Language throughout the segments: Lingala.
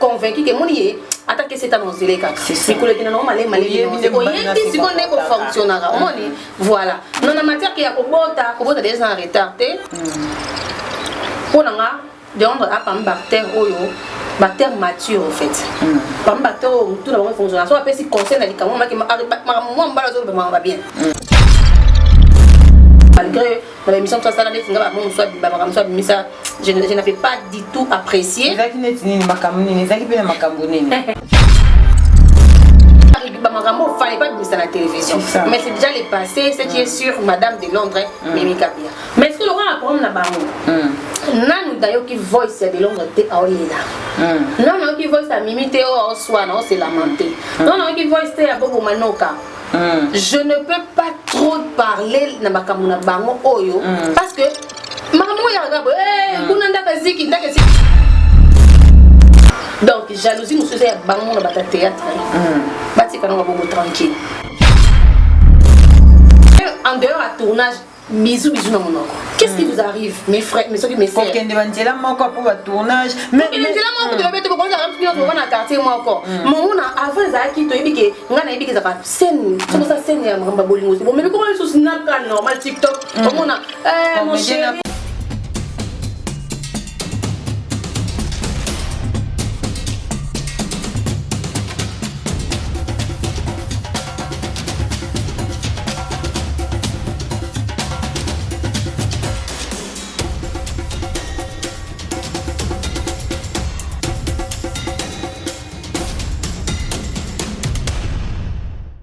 convaincu ke moni ye ata kesi etana ozele kaka mikolo ekenda nango malemi malemeoyebi siko nde kofonctionnaka omoni voilà non na matière ke ya kobota kobota deja eza na retard te mpo hmm. na nga deondre apami bactère oyo bactère mature en fait hmm. pami bactère oyo motu na bango efonctionna so apesi conseil na likambo makambo mwa mbala azolobamaka babien hmm. malgré na ba émission tosala neti nga ba mosusu abimba makambo mosusu abimisa je na fais pas du tout apprécier ezalaki neti nini makambo nini ezalaki mpe na makambo nini bamakambo ofale epa bimisa na télévision mais c'est déjà le passé ce qui est sur madame de londres mm. mimi kabia mais soki lokola problème na bango mm. nanu nayoki voice ya de londres te aoyela mm. nanu nayoki voice ya mimi te oyo aoswana oselamante nanu nayoki voice te ya bobo manoka mm. je ne peux pas trop parler na makambo na bango oyo mm. parce que makambo oyo yakaka boye eh, mm. kuna ndaka eziki ndaka eziki donc jalousie mosusu eza ya bango na bata théâtre mm. batika nango bango tranquille en dehors ya tournage bisous bisous na monoko qu'est-ce qui vous arrive mes frères mes soki mes sœurs kokende ba nzela moko pour ba tournage mais kokende nzela moko hmm. toyebi te bokonzi ya mpi nyonso na quartier moko hmm. monguna avant ezalaki toyebi ke ngai nayebi ke ezalaka scène soki osa scène ya makambo ya bolingo bomemi koma lisusu naka normal tiktok hmm. omona eh, mon chéri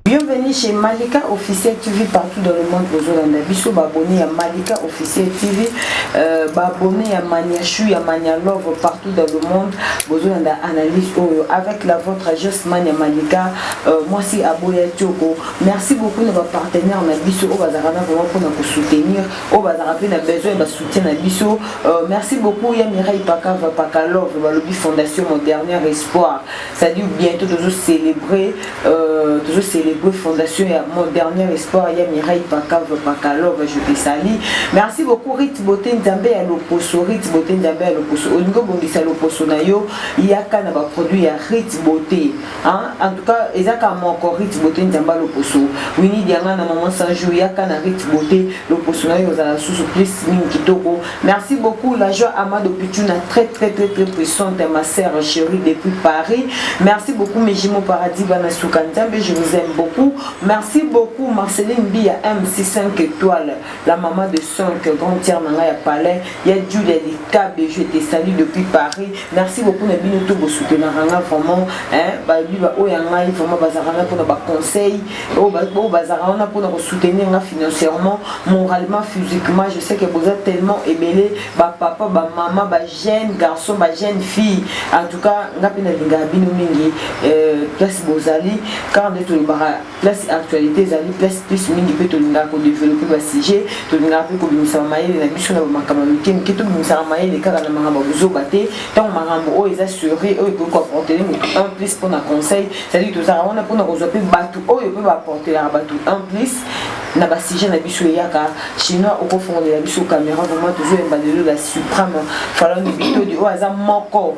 Bienvenue chez Malika Officiel TV partout dans le monde bozolanda biso baabonné ya Malika Officiel TV euh, baabonné ya Mania Chou ya Mania Love partout dans le monde bozolanda analyse oyo avec la vôtre Josman ya Malika Euh, mwasi aboya tioko merci beaucoup na bapartenaire na biso oyo bazalaka na vraiment mpona kosoutenir oyo bazalaka mpe na besoin ya basoutien na biso euh, merci beaucoup ya mirai pakava pakalove balobi fondation mon dernier espoir cestadire bientôt tozocélébre euh, tozocélébre fondation ya mon dernier espoir ya mirai pakava pakalove je te sali merci beaucoup rit bote nzambe ya loposo rit bote nzambe ya loposo olingi obongisa loposo na yo yaka na baproduit ya rit bote Hein? En tout cas, eza ka moko Rit Beauté Nzamba loposo. Winnie Diangana maman Sanjou yaka na Rit Beauté loposo na yo zala susu plus mingi kitoko. Merci beaucoup la joie Amado Pichuna très très très très puissante ma sœur chérie depuis Paris. Merci beaucoup mes jumeaux paradis bana Nzambe, je vous aime beaucoup. Merci beaucoup Marceline Bia MC5 étoiles. la maman de son que grande sœur na ngai ya palais ya Julia Likabe je te salue depuis Paris merci beaucoup na bino to bo soutenaka nga vraiment hein ba biba oyo ya ngai vraiment bazalaka na mpona ba conseil oyo oh, bazalaka oh, wana mpona ko soutenir nga financièrement moralement physiquement je sais que boza tellement ebele ba papa ba maman ba jeune garçon ba jeune fille en tout cas nga mpe nalingaka bino mingi euh, place bozali car nde tolobaka place actualité ezali place plus mingi mpe tolingaka kodevelope basujet tolingaka mpe kobimisaka mayele na biso na bamakambo ya mike mike tobimisaka mayele kaka na makambo ya kozoba te ntango makambo oyo eza sure oyo ekoki koaportele motu un plus mpona conseil cetadire tozalaka wana mpona kozwa mpe bato oyo mpe baaportelaka bato un plus na basujet na biso eyaka chinois okofongolela biso caméra vraiment tozoyemba lelo la supreme falongi bitodi oyo aza moko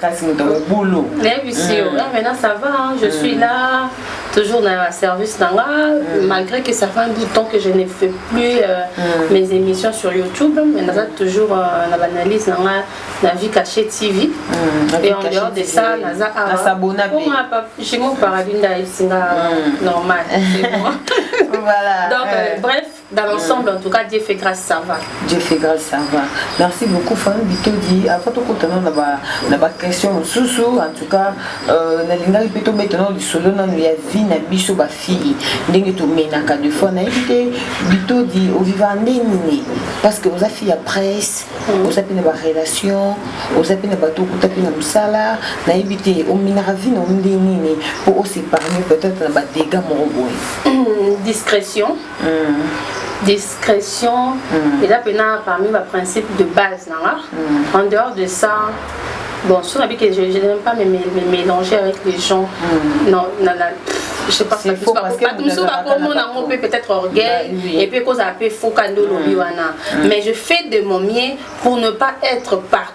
kasi moto mobulu nayebisi yo ah, maintenant ça va hein, je suis là toujours na service na nga mm. malgré que ça fait un bout de temps que je ne fais plus euh, mm. mes émissions sur youtube mais naza toujours euh, na banalyse na nga na vie cachée tv mm. et en dehors de ça naza awajimo paradis nda esinga normal voilà. donc euh, bref Dans l'ensemble, en tout cas, Dieu fait grâce, ça va. Dieu fait grâce, ça va. Merci beaucoup, Fanny Bitodi. Avant tout, quand on a la question sous sous, en tout cas, euh, na linga plutôt maintenant du solo na ya vie na biso ba fille. Ndenge to mena ka de fois na été Bitodi au vivant nini parce que vous a fait la presse, vous mm. a fait la relation, vous a fait la bateau, vous a fait la musala, na évité au mena vie na ndenge nini pour se parler peut-être na ba dégâts moraux. Discrétion. discrétion mm. eza mpena parmi ba principe de base na nga mm. en dehors de ça bon soki nabi que je, je n'aime pas me, me, me mélanger avec les gens mm. non na, na, je sais pas si bato mosusu bakomona yango mpe peut-être orgueil et puis ekozala mpe foka nde olobi wana mais je fais de mon mieux pour ne pas être par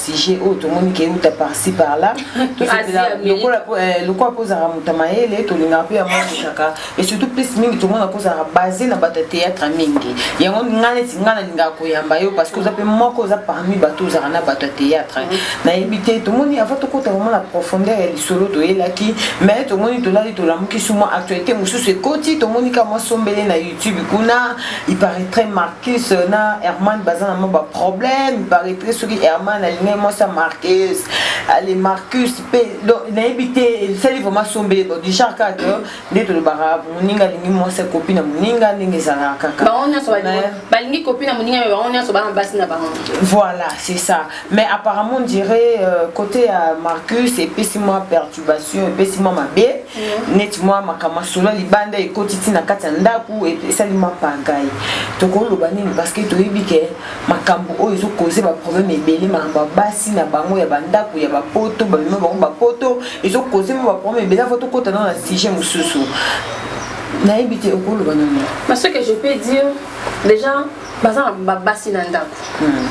sujet oyo tomoni ke euta parci par là lokola eh, mpo ozalaka moto ya mayele tolingaka mpe yango ezalaka et surtout plus mingi tomona mpo ozalaka base na bato ya théâtre mingi yango ngai neti ngai nalingaka koyamba yo parce que oza mpe moko oza parmi bato ozalaka na bato ya théâtre nayebi te tomoni avant tokota vraiment na profondeur ya lisolo toyelaki mais tomoni tolali tolamuki suma actualité mosusu ekoti tomoni ka mwa sombele na youtube kuna il paraît très marqué Kiss na Herman baza na mwa ba problème paraîtrait soki Herman alingi mwasi ya Marcus ale Marcus pe donc nayebi te esali vraiment sombele bon du genre kaka que nde tolobaka moninga alingi mwasi ya kopi na moninga ndenge ezalaka kaka bango nyonso balingi kopi na moninga me bango nyonso bana basi na bango voilà c'est ça mais apparemment on dirait euh, côté ya Marcus epesi mwa perturbation epesi mwa mabe neti mwa makambo masolo libanda ekoti ti na kati ya ndako esali mwa pagai tokoloba nini parce que toyebi ke makambo oyo ezokoze baproblème ebele makambo ya basi na bango ya bandako ya bapoto bamema bango bapoto ezokoze mwa baproblème ebele avo tokota nao na sujet mosusu nayebi te okoloba nini mais ce que je peux dire déjà baza na babasi na ndako hmm.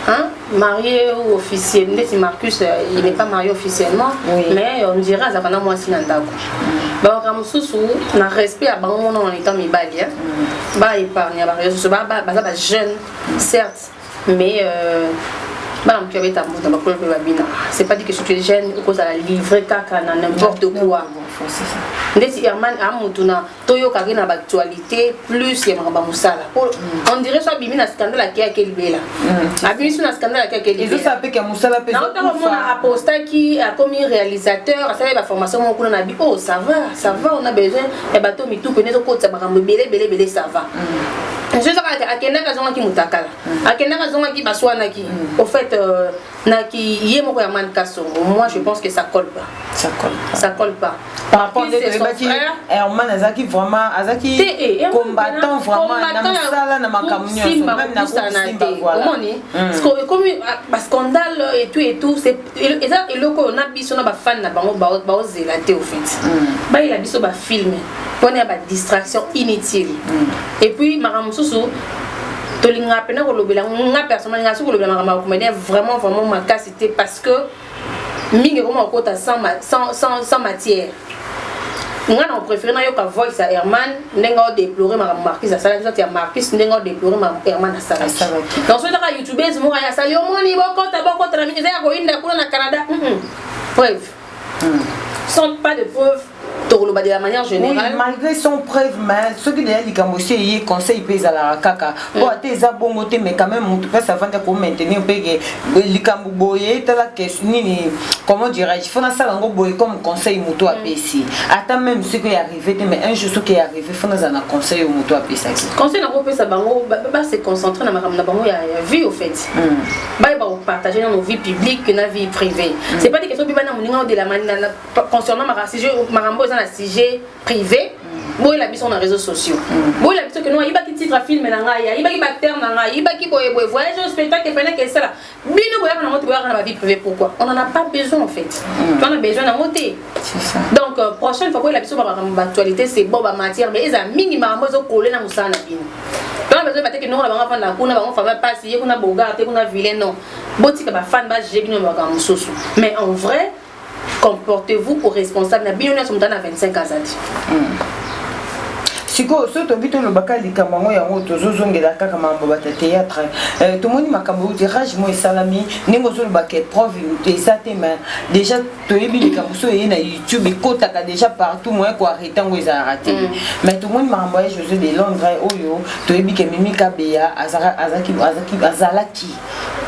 hein? marié ou officiel ndeti marcus euh, il n'est pas marié officiellement oui. mais on dirait azalaka na mwasi na ndako hmm. baoka mosusu na respect ya bango mona na etant mibali hmm. baépargne bareyo susu baza bajeune certes mais euh, bana motu abeta moto bakolo mpe babina c'est pas dit que soki jeune okozala livre kaka na n'importe quoi ndeti herman amutuna toyokaki na baactualité plus ya makambo ya mosala po mm. on dirait so abimi na scandale ake ake libela mm. abimi so na scandale ake ake libelaotamona apostaki akomi réalisateur asalaki baformation moko kuna na bi oh ça va ça va on a besoin ya bato mituku ene ezokotisa makambo ebele ebele ebele ça va mm. je ezaka akendaki azongaki motakala akendaki azongaki baswanaki au fait euh, na ki ye moko ya man kasongo moi je pense que ça colle pas ça colle pas, ça colle pas. par rapport nde toyebaki herman azalaki vraiment azalaki eh, combattant vraiment na mosala na makambo nyonso même na kosimba voilà omoni hmm. parce que ekomi ah, ba scandale et tout et tout c'est eza eloko oyo na biso na ba fan na bango baozela te au fait hmm. bayela biso ba film mpona ya ba distraction inutile hmm. et puis makambo mosusu tolingaka mpena kolobela nga personnel nga soki kolobela makambo ya comédien vraiment vraiment makasi te parce que mingi ekoma kokota sans matière nga na préféré nayoka voice ya herman ndenge odeplore makambo marcus asalaki soit ya marcus ndenge odeplore makambo herman asalaki donc soki taka youtubeuse moko asali omoni bokota bokota na mingi eza ya koyinda kuna na canada preuve sans pas de preuve tokoloba de la manière générale oui, malgré son preuve mais soki deya likambo esi eye conseil mpe ezalaka kaka po ata eza bongo te mais quand même motu mpasi avandi ako maintenir mpe ke likambo boye tala kesi nini comment dirais-je fo nasala yango boye comme conseil motu apesi ata même soki oyo arrivé te mais un jour soki arrivé fo nazala na conseil oyo motu apesaki conseil nakopesa bango base concentre na makambo na bango ya vie au fait Mm. baye bakopartage nano vie publique na vie privée mm. c'est pas des questions bibana moninga odela concernant makambo eza na sujet privé mm. boyela biso na réseaux sociaux mm. boyela biso keno ayibaki titre ya filme na ngai ayibaki bacteur na ngai ayibaki boye boye voyage au spectacle penake esala bino boyaka nango te boyaka na bavie privée pourquoi on en a pas besoin en fait mm. to na besoin nango te donc euh, prochaine fois koyela biso bamakambo baactualité c'est bon bamatière mais ezala mingi makambo ezokole na mosala na bino donc besoin bateke noko na bango afanda kuna bango fama mpasi ye kuna bogar te kuna vilain non botika bafane bajuge bino makambo mosusu mais en vrai comportez-vous au responsable na bino nyonso motana na 25 azali sikoyo soki tobi tolobaka likambo yango yango tozozongela kaka mambo bata théâtre euh, tomoni makambo euti rage mo esalami ndenge ozolobaka preuve eza te mais déjà toyebi likambo so eye na youtube ekotaka déjà partout moyen koarrete yango ezalaka te mm. mais tomoni makambo ya josé de londres oyo toyebi ke mimi kabeya azalaki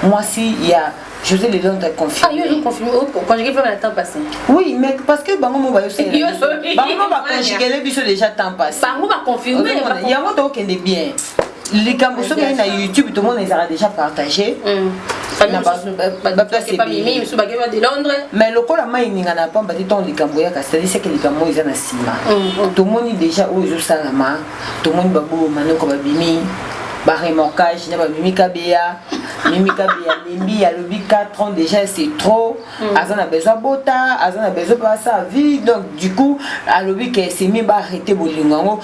mwasi ya José de Londres est confirmé. Ah, ils ont confirmé. Oh, conjugué pas le temps passé. Oui, mais parce que Bango Moba aussi. Bango Moba conjugué les bisous déjà temps passé. Bango Moba confirmé. Il y a un autre qui est bien. likambo soki ayi na youtube tomona ezalaka déjà partage mm. mais lokola mai eningana ya pamba te ntango likambo yaka saliseke likambo oyo eza na nsima mm, mm. tomoni déjà oyo ezosalama tomoni babolo manoko babimi baremorkage na bamimi kabeya mimi kabeya lembi alobi 4 ans déjà c'est trop mm. aza na besoin bota aza na besoin mpe asala vie donc du coup alobi ke semi baarrete bolingo yango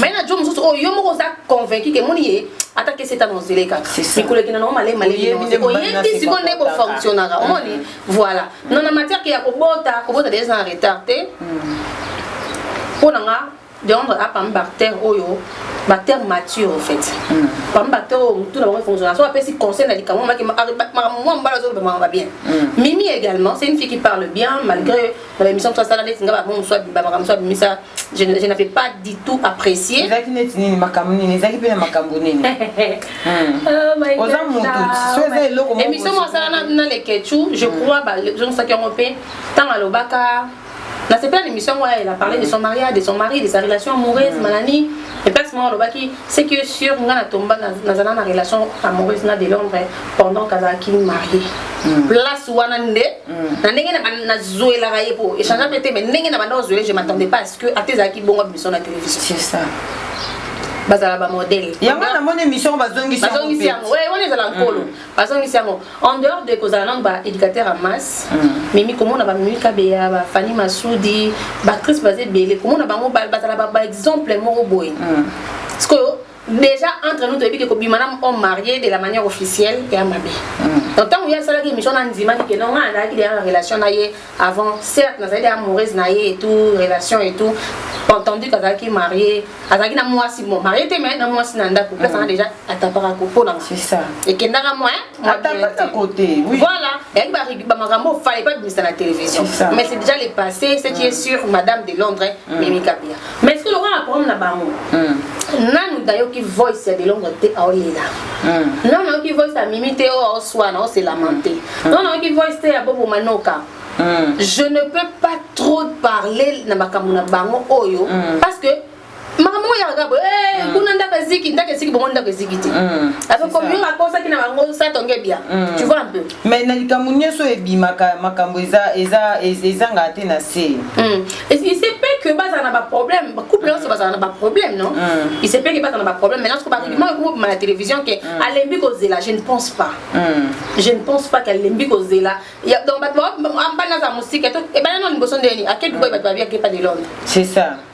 mai na jo mosusu oyo yo moko oza convaincu ke moni ye ata kesi etana ozele kaka mikolo ekenda nango malei maleioyebi siko nde kofonctionnaka omoni voilà non na matière ke ya kobota kobota deja eza na retard te mpo hmm. na nga deondre apami bactère oyo bactère mature en fait hmm. pami bactère oyo motu na bango efonctionna so apesi conseil na likambo makambo mwa mobala azolobamaka bien hmm. mimi également c'est une fille qui parle bien malgré na ba émission tosala neti nga bango mosusu abima makambo mosusu abimisa je ne je n'avais pas du tout apprécié ezalaki neti nini makambo nini ezalaki mpe na makambo nini Oh my God, oza moto ah, so eza my- eloko moko émission moko asala na- na leketchu je crois bazongisaki yango mpe ntango alobaka nasepela na émission yango elle a parlé de son mariage de son mari de sa relation amoureuse manani et place moko alobaki ce qui est sûr nga na tomba nazala na relation amoureuse na de londres pendant kazalaki marie mm. place wana nde mm. na ndenge nazwelaka ye po échange mpe te mais ndenge na banda kozwele je m'attendais pas à ce que ata ezalaki bongo bimisio na télévision c'est ça bazala bamodele yango namoni émission bazongisi yango wana ezala nkolo mm. azongisi yango en dehors de kozala nano ba éducateur ya masse mm. mimi komona bamimi kabeya bafani masudi baactrice baza ebele komona bango bazala baexemple moko boye mm. sikoyo déjà entre nous toyebi ke kobima na homme marié de la manière officielle eya mabe mm. donc ntango ye asalaki émission na ndimaki ke nonga azalaki deya na relation na ye avant certes nazalaki deja amoureuse na ye et tout relation et tout entendu kazalaki marie azalaki na mwasi mo marie te mai na mwasi na ndako mpe azalaka deja atapaka kopo na nga ekendaka mwa voilà eyaki bamakambo ofale epa bimisa na télévision mais c'est déjà le passé ce qui est sur madame de londres mimi kapia mais sikoyo lokola na programme na bango hmm. nanu nayoki voice ya delonga te aolela hmm. nanu nayoki voice ya mimi te oyo aoswana aoselamante hmm. nanu nayoki voice te ya bobo manoka je ne peux pas trop parler na makambo na bango oyo parce que makambo oyo yaka boye eh, kuna ndako eziki ndako eziki bongo ndako eziki te ape komi oyo akosaki na bango satonge bia tu vois un peu mais na likambo nyonso oyo ebimaka makambo eza eza ezangaka te na se hmm. isepe que bazala na baproblème couple nyonso bazala na baproblème non hmm. isepe que bazala na baproblème maintenant soko barudiment ekomi obima na télévision ke hmm. alembi kozela je ne pense pas je ne pense pas qu'alembi kozela donc bato ambani aza mosika ebana no liboso ndeni ake dubai bato babiaki epa de londres c'est ça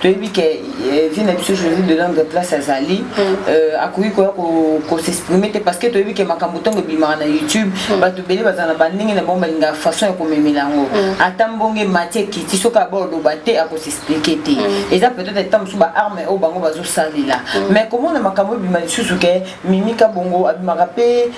toyebi ke eh, vie na biso joseph de langue place azali mm. euh, akoki koya kosexprime te parce que toyebi ke makambo ntango ebimaka na youtube mm. bato ebele baza na bandenge na bango balingaka façon ya komemela yango mm. ata mbonge mati ekiti soki abaoloba te akosexplike te eza peut-être ata mosusu baarme oyo bango bazosalela mais komona makambo ebima lisusu ke mimika bongo abimaka mpe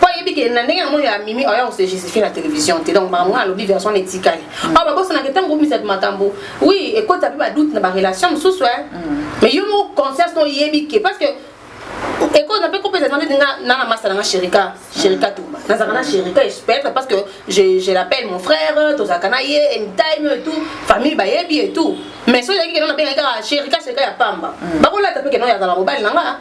po ayebi ke na ndenge yango ya mimi oya kose justifie na télévision te donc makambo wana alobi version etikali mm. oyo babosanaka ntango obisatu makambo oui ekota mpe badoute na barelation mosusu e mm. mais yo moko conscience no oyebi ke parce que ekoza mpe kopesa eza ndeti nga na na masa na nga sherika sherika mm. tumba nazalaka na sherika peut-être parce que je, je l'appelle mon frère tozalaka na ye anytime et tout famille bayebi et tout mais soki ezalaki keno nabengaki kaka sherika sherika ya pamba bakolata mpe keno yazala mobali na nga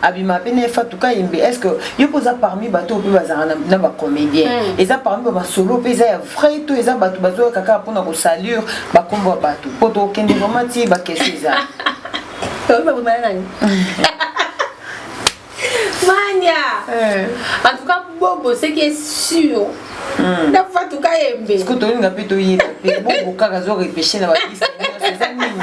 abima pe na efatu kayembe est ce que yo mpe oza parmi bato oyo mpe bazalaka na bacomédien mm. eza parmi bamasolo mpe eza ya vrai to eza bato bazoyaka kaka mpo na kosalure bakombo ya bato mpo tokende vraimen ti bakestion eza mania eh. en tout cas bobo ce qui est sûr hmm. na fatu kayembe ce que tolinga mpe toyeba mpe bobo kaka azo repeshe na bapiste eza nini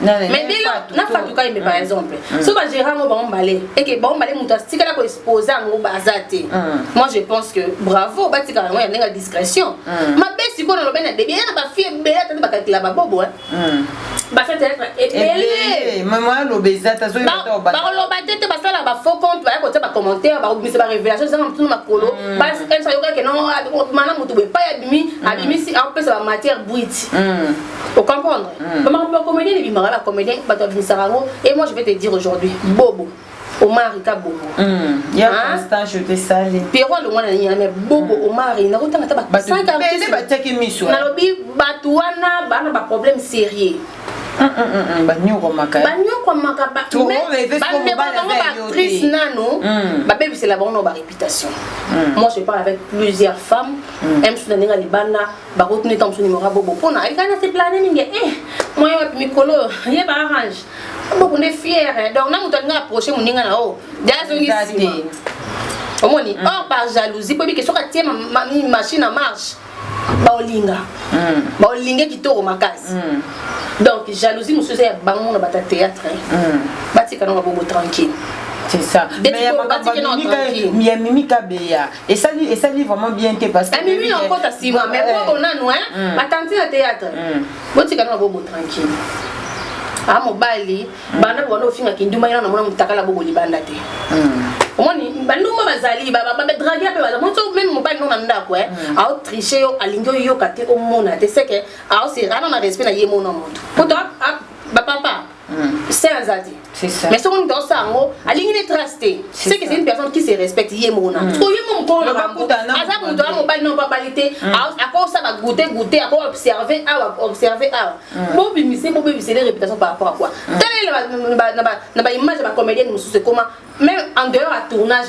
mais dès lors na fatu ka yembe par exemple soki bagérant yango bango mbale eke bango mbale moto atikala koexpose yango baza te moi je pense que bravo batikala yango ya ndenge ya discrétion mabe sikoyo nalobai na debi ya na bafille ebele atandi bakalkila babobo bakoloba te te basala bafaux compte baya kotia bacommentaire bakobimisa barévélation ezanga motuna makolo ayokaki no mana moto boye epai abimi abimisi apesa bamatière brute Au comprendre mm. Maman, le comédien, il m'a la comédien, bah, tu as Et moi, je vais te dire aujourd'hui, Bobo. omari ka bobo hmm, ya ah. constant je te sali pierrot alongwa na nini mais bobo hmm. omari nakotanga ata basankaele batiaki miso nalobi bato wana bana baproblème sérieux banyokwamaka banyokwamaka bandeko bango baactrice nano hmm. babebisela bango na baréputation moi je parle avec plusieurs femmes msusu na ndenge libanda bakotuna ntango mosusu nimero ya bobo mpona ayekani na seplane mingi e eh, moyen wapi mikolo oyo ye baarrange bobo nde fiere donc na moto alinga approche moninga na o de azongi nsima omoni mm. or par jalousie mpo ebike soki atie machine en marche baolinga mm. baolinge kitoko makasi mm. donc jalousie mosusu eza ya bango na bata théâtre batika nango bobo tranquille c'est ça mais ya makambo ya mimi kabeya esali esali vraiment bien te parce que amimi na kota sima mais eh. bobo nanu hein mm. batanti na théâtre mm. botika na bobo tranquille a ah, mobali mm. banda bwana ofinga kinduma yana namona motakala bobo libanda te omoni bandumba bazali badrage mpe baza moni so meme mobali no na ndako e aotriche yo alingi oyoka te omona te seke aosirana na respect na ye mona moto poto bapapa saint aza te mais soki moto aosa yango alingi ne trace te ce que c'est une personne qui se respecte ye moko na siko ye moko mokolo na bango aza moto ya mobali noko abali te akosa bagoute goute ako observe awa observe awa bobimise bobebisele réputation par rapport à quoi talela na baimage ya bacomédienne mosusu ekoma même en dehors ya tournage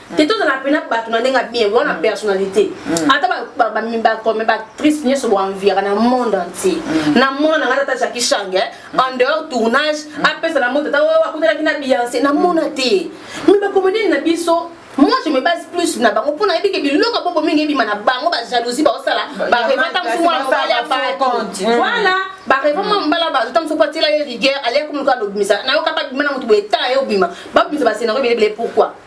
te tozala mpena bato na ndenge ya bien wana mm. personnalité mm. ata bakome baactrice nyonso boanviaka na monde entier mm. na mona na ngai tata jaki change eh, en dehors tournage apesa na moto ata oh, akutanaki na biance namona te mi bakomedeni na biso moi je me base plus na bango mpo nayebi ke biloko bongo mingi ebima na bango bajalousie baosala bareva ta mosu mwana mobali ya bato voilà bareva mwa mobali ya bato ta mosu mpo atila ye rigueur aliaki moluka alobimisa nayoka babima na motu boye tala ye obima babimisa bascenario ebele ebele pourquoi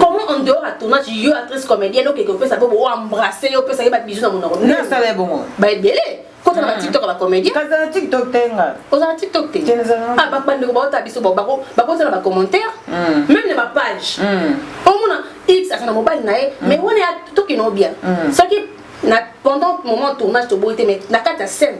comment en dehors ya tournage yo actrice comédienne okeke opesa bobo o embrasse yo opesaki ba bisous na monoko nde asala ye bongo ba ebele kota na ba tiktok ya ba comédien kaza na tiktok te nga oza na tiktok te Te, naza na- ah ba bandeko baota biso ba- bako bakota na ba commentaire Mm. même na ba page Mm. omona x aza na mobali na ye mais wana ya tokino bien Mm. soki na pendant moment tournage toboyi te mais na kati ya scène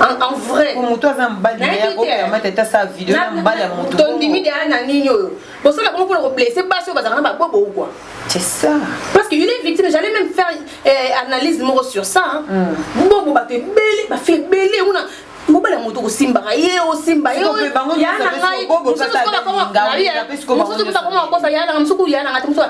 en vrai moto aza mobali nayebiamata ta sa video na mobali ya moto tondimi deya na nini oyo bosala bongo mpona koblesse basi oyo bazalaka na babobo ou quoi c'est ça parce que il est victime j'allais même faire eh, analyse moko sur ça hein. mm. bobo bato ebele bafi ebele kuna mobali ya moto kosimbaka ye osimba ye yana ngai mosusu bakoma bakosa yana ngai mosusu ya nanga te mosusu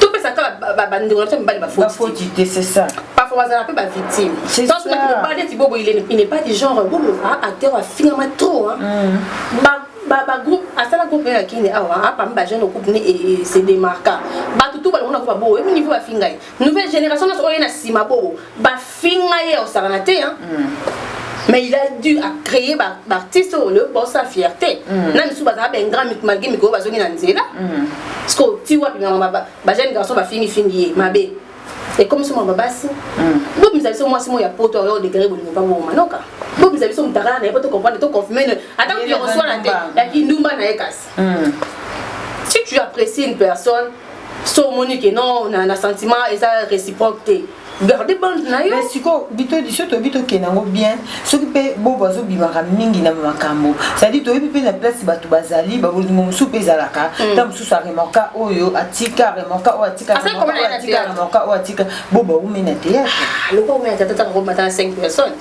topesa kaka bandeko na biso mibali bafoti te c'est ça parfois bazala mpe bavictime tanso naki mobali neti bobo il n'est pas du genre bobo a acteur afingama trop bagroupe asala groupe ya kini awa apami bajeune groupe ne se démarqua bato tu balongona groupe ya bobo ebi niveau bafingai nouvelle génération nyonso oyo ye na nsima bobo finga ye osakana te hein mm. mais il a dû à créer ba artiste au lieu pour sa fierté mm. na misu bazala ben grand malgré mikolo bazongi na nzela mm. parce que ti wapi na ba ba jeune garçon ba fingi fingi ye mabe et comme somo babasi mm. bo misa biso mwasi mo ya poto oyo degré bolingo pa bo manoka bo misa biso mutakala na ye po to comprendre to confirmer ata ko reçoit na te ya kindumba na ye kasi Hum. Si tu apprécies une personne, so omoni ke non na, na sentiment eza réciproque te garde bande na yo mais sikoyo biso toyebi tokende yango bien soki mpe bobo azobimaka mingi na makambo cestadire toyebi mpe na place bato bazali babolingo mosusu mpe ezalaka hmm. ntango mosusu aremorka oyo atika remorka oyo atika remorka oyo atika bobo aumei na teyatre ah, lokola omei na tata ntango omata na 5 personnes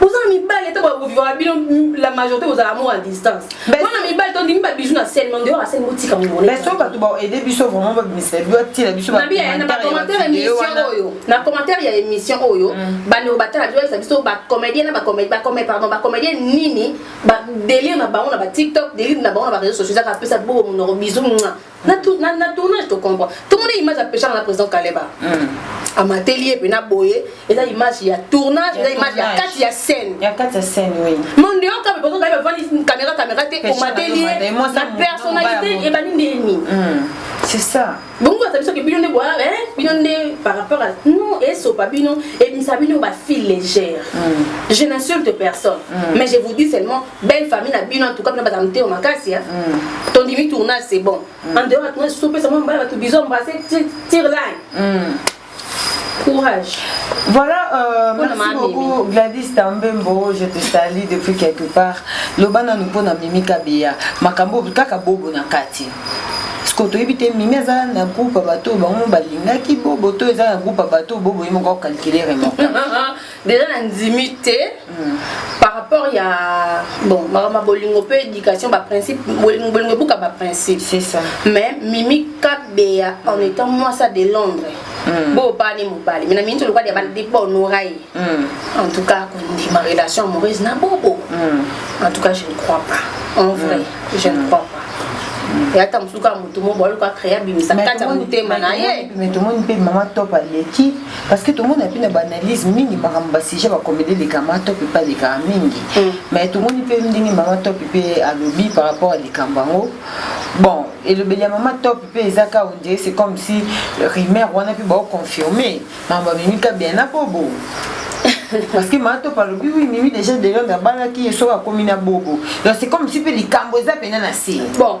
boza na mibali ete boya kovivaka bino la majorité bozala amour à distance wana mibali tondimi babiju na sene mande oyo asene botika moso bato baede biso vraiment babimisa bio atila biso na commentaire ya émission oyo mm. bandeko batala biso bayesa biso bacomédien na pardon bacomédien nini délire na bango na batiktok délire na bango na bareseau sociaux ezaka apesa bobo monoko bizu na, na, na tournage tocomprend tomona image ya peshanga na président kaleba mm. amateli ye mpe na boye eza image ya tournage eza image ya kati ya scène ya kati ya scène oui monde yo kaka bazo kaka bavandi caméra caméra te omateli ye na personnalité ebandi nde nini mm. c'est ça bongo baza biso ke bino nde boa bino nde par rapport à non esopa bino ebimisa bino bafile légère mm. je n'insulte personne mm. mais je vous dis seulement belle famille na bino en tout cas bino baza motema makasi ya mm. tondimi tournage c'est bon mm. en dehors ya tournage sopesa mwa mbala bato biso embrasse tire line mm. courage Voilà, euh, merci ma beaucoup Mimi. Gladys Tambembo, je te salue depuis quelque part. Lobana nous pona Mimi Kabeya, makambo kaka bobo na kati. sikoyo toyebi te mimi aza na groupe ya bato oyo bango balingaki bobo to eza na groupe ya bato oyo bobo ye moko akalkile remoko deja na ndimi te par rapport ya bon makambo ya bolingo mpe éducation baprincipe bolingo bolingo ebuka baprincipe C'est ça. mais mimi kabeya en étant mwasi ya de londres bo opani mobali mais na miniti olokwadi ya bande mpo onora ye en tout cas kondima relation amoureuse na bobo en tout cas je ne crois pas en vrai je ne crois pas ya ata mosusu kaka motu mo boaluka créa bimisa kati ya motema na ye mais tomoni mpe mama top aleki parce que tomoni api na baanalyse mingi makambo basujet bakomede eleka mama topi mpe alekaka mingi mm. mais tomoni mpe ndenge mama topi mpe alobi par rapport ya likambo yango bon elobeli ya mama top mpe eza ka ondire c'est comme si rumeur wana mpe baoconfirme makambo amemi ka bien na bobo parce que mama top alobi wi mimi déjà delonde abalaki ye soki akomi na bobo donc c'est comme si mpe likambo eza mpena na se bon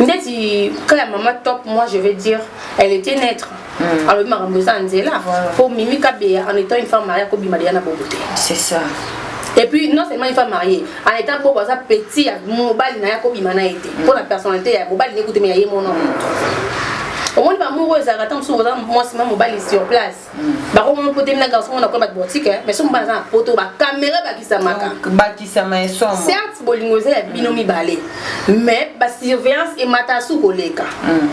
ndeti ka ya mama top moi je vais dire elle était neutre hmm. alobi makambo eza nzela mpo mimi kabeya en étant une femme maria kobima deya na bobo te c'est ça et puis non seulement une femme mariée en état bobo aza petit ya mobali na ye akobima na ye te mpo hmm. na personnalité ya mobali nekuteme ya ye mona moto omoni bamour oyo ezalaka ntango mosusu oza mwasi ma mobali sur place bango moko potemi na garçon na koyeba botike eh. mais soki mobali aza na poto bakamera ebakisamaka bakisama ya somo certes bolingo eza ya bino mm. mibale mais basurveillance emata su koleka mm.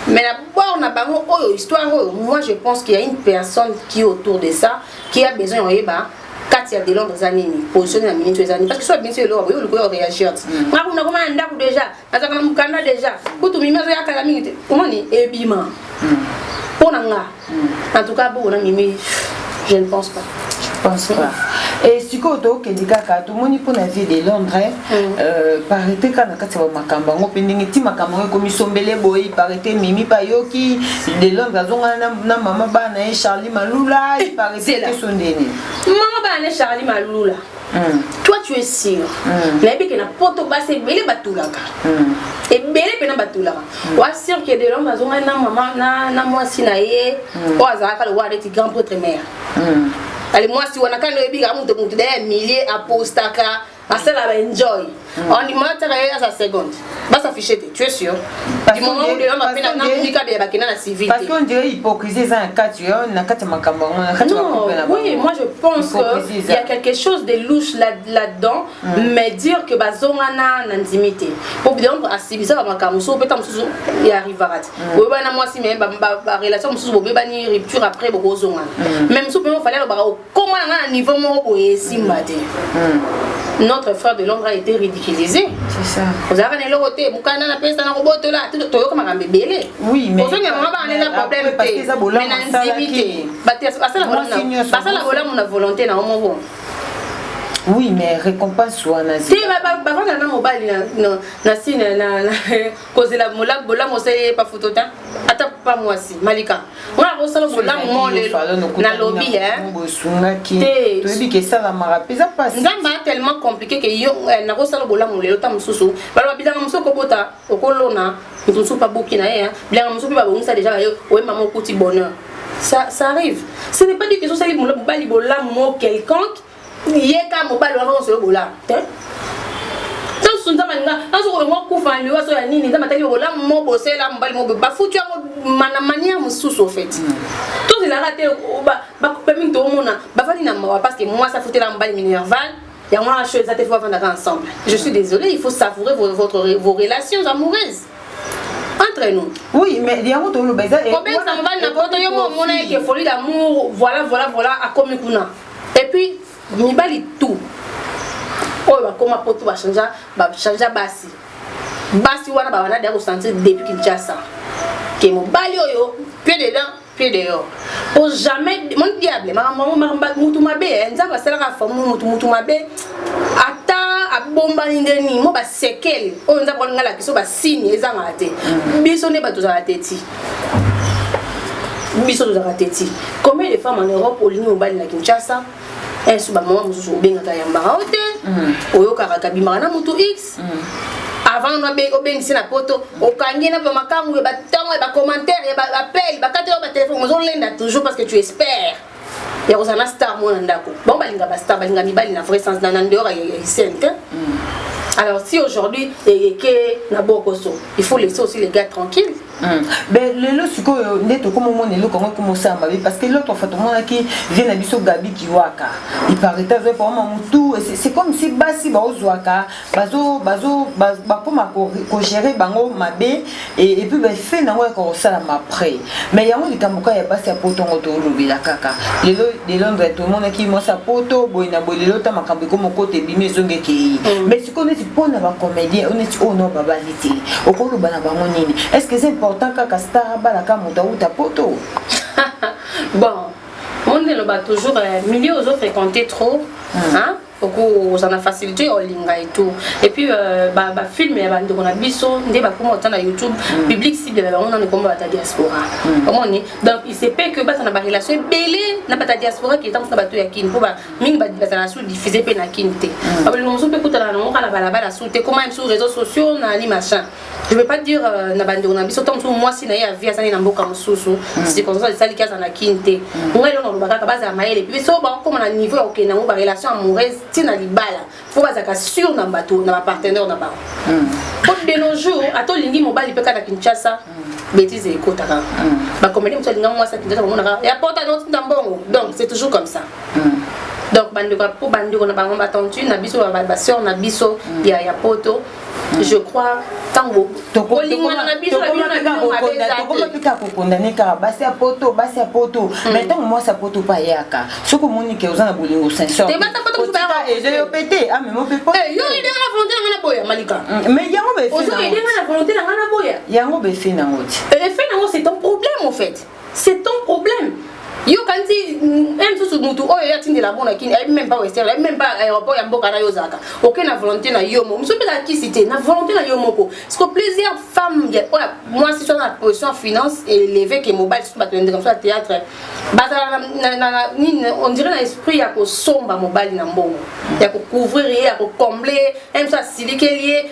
mais na bord na bango oyo histoire oyo moi je pense qu'il y a une personne qui autour de ça qui a besoin ya koyeba kati ya delondre eza nini position na minute eza nini parce que soki abinisi eloko boye olikoya oreagir ti nga kuna koma na ndako déjà azalaka na mokanda deja kutu mimi azoya kala mingi te omoni ebima hmm. mpo na nga hmm. en tout cas boko na mimi je ne pense pas pense pas e sikoyo tokende kaka tomoni mpo na vie de londres mm. euh, parité kaka na kati ya bamakambo yango mpe ndenge ti makambo yango ekomi sombele boye parité mimi bayoki de londres azongana na mama bana ye charlie malula parité te so ndeni mama bana ne charlie malula Mm. toi tu es sûr mm. nayebi ke na poto basi ebele batulaka mm. ebele mpena batulaka mm. oa sûr ke delom azongani na mama na, na mwasi na ye mm. oyo azalaka lokola neti grand potre mare mm. ali mwasi wana kani oyebika moto moto daya milie apostaka asala baenjoy on dit mata ka ya sa seconde ba s'afficher te tu es sûr du moment où les hommes appellent na mika de bakina na civil parce qu'on dirait hypocrisie eza na kati yo na kati makambo yango na kati makambo na oui moi je pense que il y a quelque chose de louche là là dedans mm. mais dire que bazonga na na ndimité pour bien à sibisa ba makambo so peut être mususu ya rivarat mm. oyo bana mwasi mais ba relation mususu bobebani rupture après bokozonga mm. même so pe fallait ba Comment on a un niveau moko boye esimba te hmm. notre frère de l'ombre a été ridiculisé ozalaka na eloko te mokanda na pesa na kobotola toyoka makambo ebele ozongi yango bana eza problème te mais na nzimi te bato basala bolamu na volonté na yo moko oui mais récompense wana te bavanda na mobali na sine kozela molamu bolamu osali ye pa foto ta ata pa mwasi malika wana akosala bolamu mo lelo nalobi te nzambe a tellement compliqué ke yo eh, nakosala bolamu lelo ta mosusu baloba bilanga mosusu okobota okolona moto mosusu pa boki na ye bilanga mosusu mpe babongisa deja bayo oye mama okuti bonheur ça, ça arrive ce n'est pas dit que ezosali mobali bolamu mo quelconque ye ka mobali wana nyonso yo bolamu te ntanso nzambe alinga ntanso kolongo kufa liwa so ya nini nzambe ataki bolamu mo bosela mobali mo bafuti yango na mania mosusu ofeti mm. tozelaka te bakupe mingi toomona bafandi na mawa parce que mwasi afutela mobali minerval yango wana sho eza te fo bafandaka ensemble je suis désolé il faut savourer votre, vos relations amoureuses entre nous oui mais yango toloba eza kobengisa mobali na poto yo mo omona eke folie d'amour voilà voilà voilà akomi kuna Et puis mibali tout oyo bakoma poto bachangea bachangea basi basi wana babanda deya kosentir depuis kinshasa ke mobali oyo pied dedans pied dehors po jamais mon diable mutu mabe eh, nzambe asalaka famu mutu mutu mabe ata abombani nde nini mo basekele oyo nzambe alinga lakisa basini ezangaka te mm. biso nde bato ozala te ti biso tozalaka teti combien de femmes en europe olingi mobali na kinshasa insu bamama mosusu obengaka yambaka o te mm. oyokaka kabimaka na motu x mm. avant obengisi na poto okangi na bamakangu ya batongo ya bacommentaire ya baappel bakati yo batelefone ozolenda toujours parce que tu espère ya kozala na star moko na ndako bango balinga bastar balinga mibali na vrai sens na ndeyora ya isene te mm. alors si aujourd'hui eyeke na bokoso il faut laisser aussi les gars tranquilles Hmm. mais lelo sikoyo nde tokoma omona eloko yango ekoma osala mabe parce que l'autre fois tomonaki vie na biso gabi kiwaka ipareta azwaki pamama motu c'est comme si basi baozwaka bazo bazo bakoma kogere bango mabe epuis bafe na yango yaka kosalama après mais yango likambo kaka ya basi ya poto yango tolobela kaka lelo de londre tomonaki mwasi ya poto boye na boye lelo ta makambo ekomi okota ebimi ezongi ekei mm. mais sikoyo neti mpo na bacomédien oyo neti oyo oh no babali te okoloba na bango nini est ce que eza important kaka star abalaka moto awuta poto bon monde eloba toujours euh, milieu ozofréquente trop mm. hein? okozala na facilité ya olinga et tout et puis euh, ba, ba film ya bandeko na biso nde bakoma ota na youtube mm. public cible na bango nano ekoma bata diaspora mm. omoni donc il se peut que baza na barelation ebele na bata diaspora ke ntango na bato ya kini mpo mingi bazala sous diffuse mpe na kini te mm. babolingo mosusu mpe kutana na yango kaka na balabala sous te koma msu réseau sociaux na ni machin je veux pas dire euh, na bandeko na biso ntango mosusu mwasi na ye avi azali na mboka mosusu mm. circonstance esaliki aza na kin te mm. ngai elongo aloba kaka bazala mayele mpe biso bakokoma na niveau ya kokende yango barelation amoureuse ti na libala mpo bazalaka sur na bato na bapartenaire na bango mm. po de nos jours ata olingi mobali mpe kaka na kinshasa bêtise ekotaka bakomeli mosu alinga mwasi ya kinshasa bamonaka ya pota notinda mbongo donc c'est toujours comme ça donc bandeko mpo bandeko na bango batendu na biso baseur na biso ya ya poto je crois ntango kolingana na biso tokomapika kokondane kaka basi ya poto basi ya poto hmm. mai ntango mwasi ya poto mpe ayaka soki omoni ke oza na bolingo sensoryo mpe te amema mpe poyamai yango befe nango ti efe nango c'est un problème en fait C'est ton problème. Yo kanti même sous mutu oyo ya tindela mona kin ayebi même pas western ayebi même pas aéroport ya mboka na yo zaka oke na volonté na yo moko musu pesa kisi te na volonté na yo moko parce que plusieurs femmes ya oya moi si soit na position finance élevée que mobile surtout bato ndeka sur théâtre bazala na na nini on dirait na esprit ya kosomba mobali na mbongo ya ko couvrir ye ya ko combler même ça silikeli ye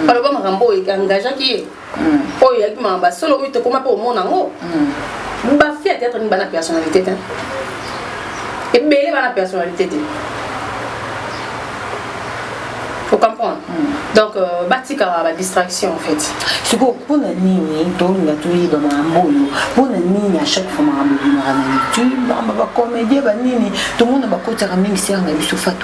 mm. baloba makambo oyo engagaki ye mm. oyo eyaki makambo ya solo oyo tokoma mpe omona yango mm. bafi ya théâtre nini bana personnalité te ebele bana personnalité te faut comprendre mm. donc euh, batikaka badistraction en fait sikoyo mpona nini tolinga toyeba makambo oyo mpona nini à chaque fois makambo ebimaka na youtube makambo bacomédien banini tomona bakotaka mingi seranga biso fatu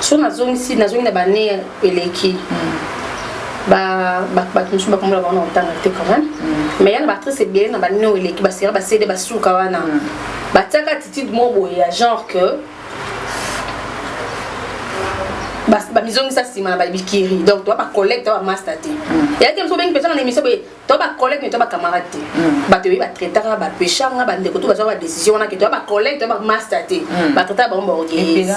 so nazongisi nazongi na bane eleki hmm. bato mosusu bakomona bango na kotanga te quand même hmm. mais ya na baactrice ebele na bane oyo eleki basera basede basuka wana hmm. batiaka attitude moko boye ya genre que bamizongisa nsima na babikiri donc toa bacollègue toa bamasta te eyaki mosu obengi mpenza na émission boye to ba collègue ne to ba camarade te mm. bato yebi batraitaka bapeshanga bandeko to bazwaka badécision wana ke to ba collègue to ba master te mm. batraitaka bango baorgueillese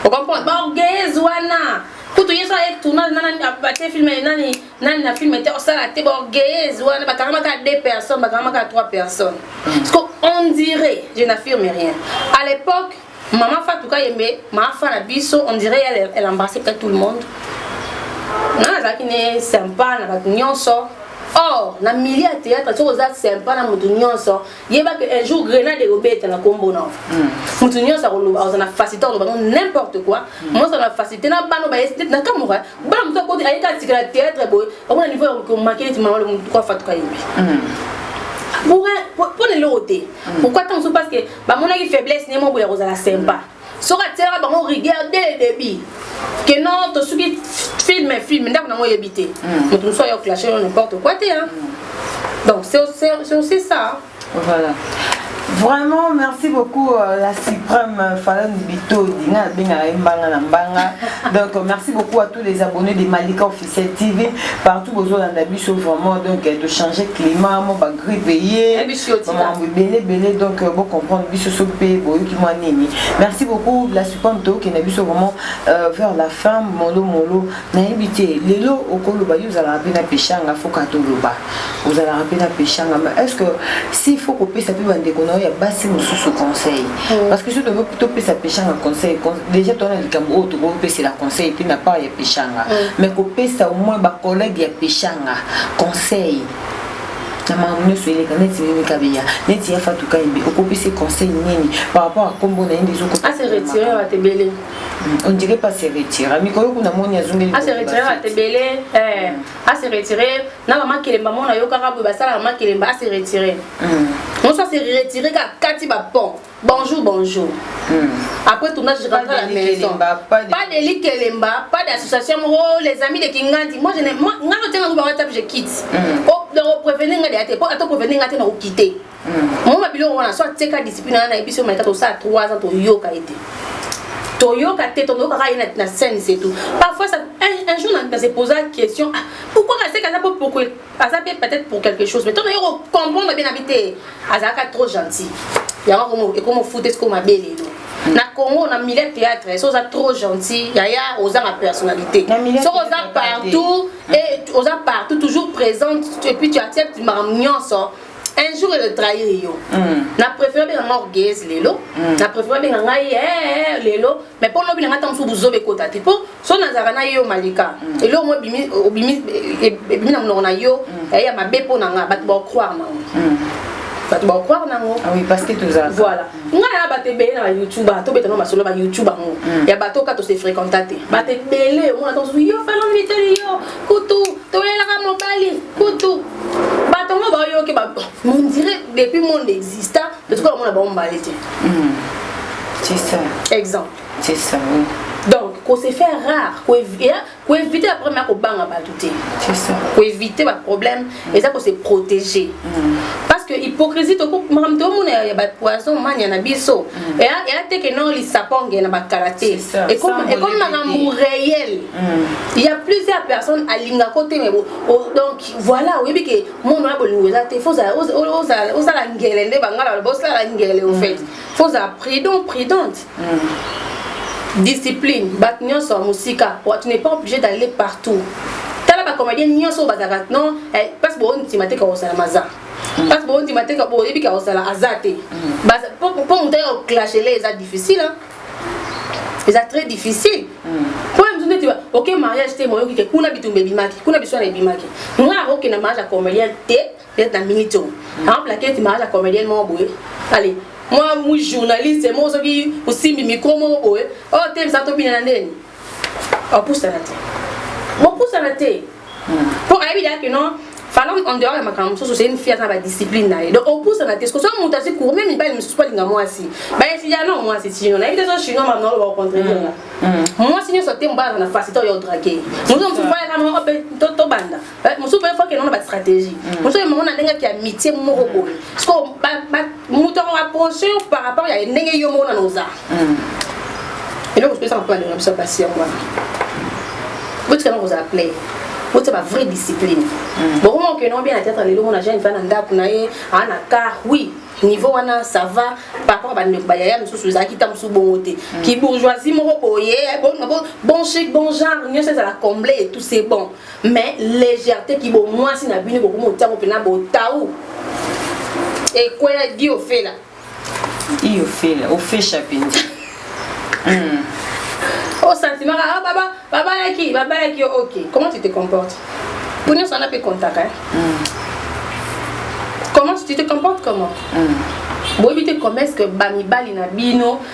okomprendre baorgueillese wana kutu ye so aye tournage nani bate filme nani nani na filme te osala te baorgueillese wana bakangamaka deux personnes bakangamaka trois personnes mm. parce que on dirait je n'affirme rien à l'époque Maman Fatou Kayembe, ma fan à biso, on dirait elle, elle embrassait peut-être tout le monde. Non, azalaki ne sympa na bato nyonso. Or, na milieu ya théâtre, soki oza sympa na moto nyonso, yeba que un jour grenade ekobeta na kombo na moto nyonso akoloba oza na facilité oloba no n'importe quoi. Moto na facilité na bana baye peut-être na kamuka, bana moto akoti ayeka atikala théâtre boye, okona niveau ya komaki neti mama le moto kwa fatuka yembi. Pour un, pour, pour les lots pourquoi tant parce que bamonaki faiblesse ne moko ya kozala sympa soki atielaka bango rigueur dès le début que non tosuki film film ndako nango oyebi te mm. moto mosusu ayo clache yo n'importe quoi te hein? Mm. donc c'est aussi ça voilà Vraiment, merci beaucoup euh, la suprême euh, Falon Bito, Dina Benga Mbanga Nambanga. Donc, euh, merci beaucoup à tous les abonnés des Malika Officiels. C'est TV partout bozo landa biso vraiment donc euh, de changer climat mo ba grippe ye maman belé belé donc euh, bon comprendre biso so pe boyo ki moi nini merci beaucoup la supante to ke na biso vraiment euh, vers la fin molo molo na yebite lelo okolo ba yuzala pe na peshanga foka to loba ozalaka mpe na peshanga ma est ce que s'il faut kopesa mpe bandeko na yo ya basi mosusu conseil mm. parce que so topesa peshanga conseil déjà toa na likambo oyo tokopesela conseil te na part ya peshanga mm. mais kopesa au moins bacollègue ya peshanga conseil na makambo nyonso eleka neti mimi kabeya neti ya fatu kayembe okopesi conseil nini par rapport a kombo na ye nde ezokoaseretire ondire pas se retire mikolo kuna moni azongeli aseretire atebele a se retirer na ba makelemba mona yo kaka boye basala ba makelemba a se retirer mm. on soit se retirer ka kati ba pont bonjour bonjour mm. après tout je rentre à la maison pas de likelemba pas d'association oh les amis de Kingandi moi je n'ai moi nga tenga ba WhatsApp je quitte mm. oh donc prévenir nga de ate po ato prévenir nga te na ko quitter moma biloko wana so atika discipline wana nayebi soki malika tosala 3 ans toyoka ye te toyoka te tonoyoka kaka ye na scène c'est tout parfois ça, un, un jour na se posa question ah, pourquoi kaseka aza po pourquoi aza mpe peut-être pour quelque chose mais to nayoki kocomprendre bien na bi te azalaka trop gentil yango ekoma ofute sikoyo mabe lelo na congo na milieu théâtre so oza trop gentil yaya ozanga personnalité soki oza partout et oza partout toujours présente et puis tu acceptes makambo nyonso un jour ele trahir yo na préfère benga nga orgueilleuse lelo na préfère benga ngai ee lelo mais mpo lobi na ngai ntango mosusu buzoba ekota te mpo so nazalaka na yo malika eloko mo ebimi na monoko na yo yaye ya mabe mpo na ngai bato baocroire nango bato baocroire nango voilà ngai na bato ebele na bayoutube tobetanga masolo ya bayoutube yango ya bato oka tose fréquenta te bato ebele omona ntango mosusu yo faloniteli yo kutu tolelaka mobali kutu bato yango bayoki mondire depuis monde exista totika komona bango mbale te hmm. c'est ça exemple c'est ça oui. donc ko se faire rare ko éviter ba problème ya kobanga bato te ko éviter ba problème hmm. eza ko se protéger hmm. parce que hypocrisie makambo tomona ya bapoison mania na biso eya teke no lisaponge na bakala te ekomi makambo réel il y a plusieurs personnes alinga ko te mais bon oh, donc voilà oyebi ke monde wana bolingo eza te faut ozala ngele nde bangala baloba osala ngele au fait faut ozala prudent prudente mm. discipline bato nyonso ya mosika tu n'es pas obligé d'aller partout tala bacomédien nyonso oyo bazalaka non eh, parce que boondima te kakosala maza mm. parce que boondima te boyebi kakosala aza te mm. po moto ayaka koklashele eza difficile eza très difficile mpo na biso ndeti oke mariage te moyoki te kuna bitumba ebimaki kuna biswana ebimaki nga akoke na mariage ya comedienne te ndeti na minute oyo akoplake eti mariage ya comedienne moko boye ale mwa journaliste moko soki osimbi micro moko boye oyo oh, te misa tobina na ndeni opusana te bopusana te mpo hmm. ayebi dake non fana en dehors ya makambo mosusu c'est une fille aza na badiscipline na ye donc opusana te soki moto asi cour meme mibali mosusu balinga mwasi bayesia no mwasi tino nayebi te so chinois mamna oloba ocontraidir nga mwasi nyonso te mobali aza na facilité oyo odrake moto mosusu bayaka moko mpe tobanda Eh, mosusu mpe fo akende na bastratégie mm. mosusu ye mongo na ndenge ake ya mitie moko boye siko moto yango approche yo par rapport ya ndenge yo moko nana oza mm. eloko sopesaka mpo balinga biso basi yango wana botikana kozala play botia ba vraie discipline mm. bokoma okende obia na teatre lelo mona jeune fana ndako na ye aa na car oui niveau wana ça va par rapport bandeko bayaya mosusu ezalaki ta mosusu bongo te kibourgeoisie moko boye bon chic bon genre nyonso ezala comble et tout c'est bon mais légèreté ki bo mwasi na bino bokomi otango pena botau ekwela di ofela di ofela ofesha penza hmm. o oh, sentiment ah baba babalaki babalaki yo ok comment tu te comportes po nyonso wana mpe contaka eh? hmm. comment tu te comportes comment hmm. boyebi te comment est ce que bamibali na bino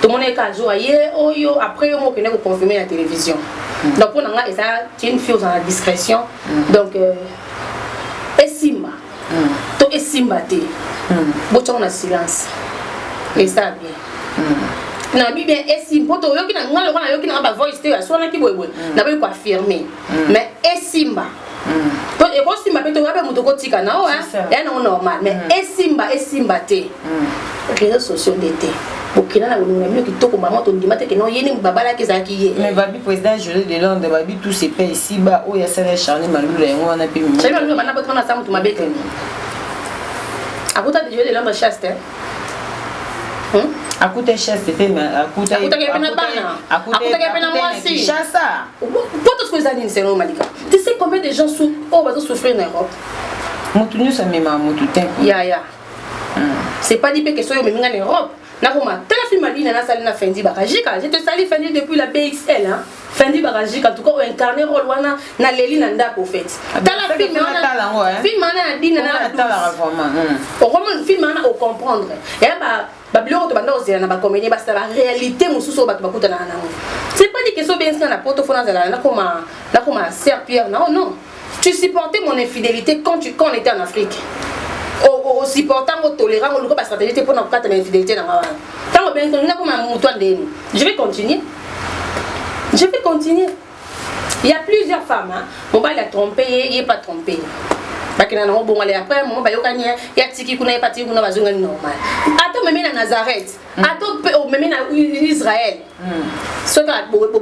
tomona ye kaka jour aye oyo après yo mokende ko confirmer na télévision mm. donc mpo na ngai eza une fille ozala na discrétion mm. donc euh, esimba mm. to esimba te mm. botiango na silence esala bien mm. na bi bien esimba mpo toyoki na ngai lokola nayoki na ngai bavoice te aswanaki boyeboye mm. naboyi koaffirme mm. mais esimba po ekosimba mpe toya mpe moto okotika na oyo ya nango normal mais mm. esimba esimba te mm. réseau sociaux nde te bokenda na kolongola bino kitoko mama tondima te keno ye nini babalaki ezalaki ye mais babi président joli de londres babi tout se paye ici ba oyo asala ya charne malula yango wana mpe mimi charne malula bana bato wana asa moto mabe te akuta joli de londres chaste Hmm? akuta echeste mpe akutaki mpe na bana akutaki mpe na mwasi shasa mpo tosko eza nini selon malika tu sais combien de gens oyo oh, bazo souffrir na europe motu nyonso amemaka motu te ya ya hmm. c'est pas dit mpe ke soki omemi nga na europe nakoma tala film alina nasali na fendi bakajika je te sali fendi depuis la bxl hein? Fendi Barajika en tout cas o incarner rôle wana na leli na ndako au fait. Ah, tala film wana tala yango hein. Film wana na dina na la tala vraiment. Hmm. O comprendre film wana o comprendre. Ya eh, ba ba biloko to banda ozela na ba comédien ba sala réalité mususu bato bakutana na yango. C'est pas dit que so benzi na poto fona zala na koma na koma Serre Pierre na oh non. Tu supportais mon infidelite quand tu quand on était en Afrique. O supporta ngo tolérant ngo luka ba stratégie te pona kokata ba infidelite na ngawa. Tango ben ko ndako ma mutu andeni. Je vais continuer. Je vais continuer. Il y a plusieurs femmes hein. Mobali a trompé, il n'est pas trompé. bakenda nango bongo ale après mama bayokani ya tiki kuna ye patiki kuna bazongani normal ata omemi na nazareth mm. ata mpe omemi na israel mm. soki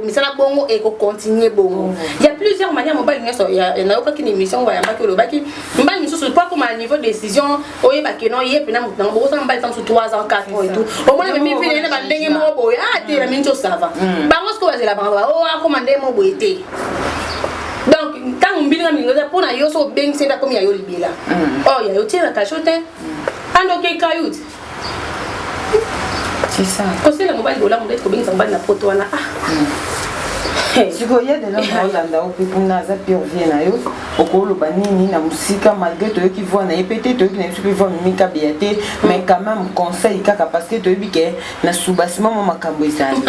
misala bongo ekocontinue bongo mm. ya plusieurs manière mobali nyonso nayokaki na émission ngo bayambaki olobaki mbali misusu mpo akoma na niveau décision oyeba keno ye mpena moto nango bokosala mbali ta mosusu 3 ans 4 ans etout omona memi vile na bandenge moko boye a ah, te na mingi osava bango sikoyo bazela bango o oh, akoma ndenge moko boye te donc ntango mbilinga milingo eza mpo na yo so obengisi nde akomi ya yo libela oyo ya yo tie na kasho te ando okei kayuti C'est ça. Conseil na mobali bolamu ndeti kobengisa mobali na poto wana ah. Hmm. sikoyo ye delo naolanda yo mpe kuna aza pire vie na yo okoloba nini na mosika malgré toyoki voi na ye mpe te toyoki na biso mpe voi mimikabeya te hmm. mais quand même conseil kaka parce que toyebi ke na subasima mwa makambo ezali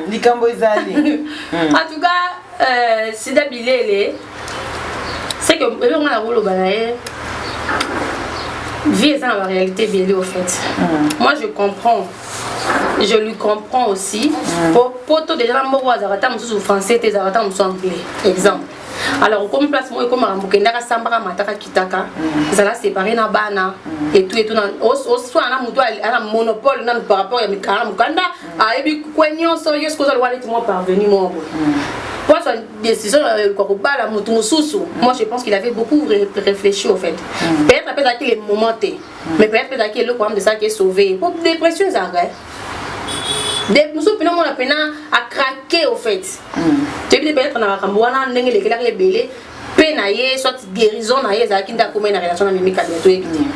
likambo ezali en tout cas Euh, sida bilele c'est que elongo na koloba na ye vie eza na ba réalité ebele au fait mm. moi je comprends je lui comprends aussi mm. po poto déjà na mboko azalaka ata mosusu français te ezalaka ata mosusu anglais exemple alors okomi place moko ekomaka mokendaka asambaka mataka kitaka ezala mm. séparé na bana mm. etu etu oswana na motu ana monopole nanu par rapport ya mikala mokanda ayebi kwe nyonso yo soki ozali wana ti mwa parvenu moko hmm. po azwa décision ya kobala motu mosusu hmm. moi je pense qu'il avait beaucoup réfléchi au fait hmm. peut-être apesa ki le moment te mais peut-être apesa ki eloko amde esalaki esauve po dépression ezalaka mosusu mpena omona mpena acrake au fait toyebi te peut-être na makambo wana ndenge elekelaka ebele pe na ye soit guérison na ye ezalaki nde akomai na relation na mimi kabila toyebi nini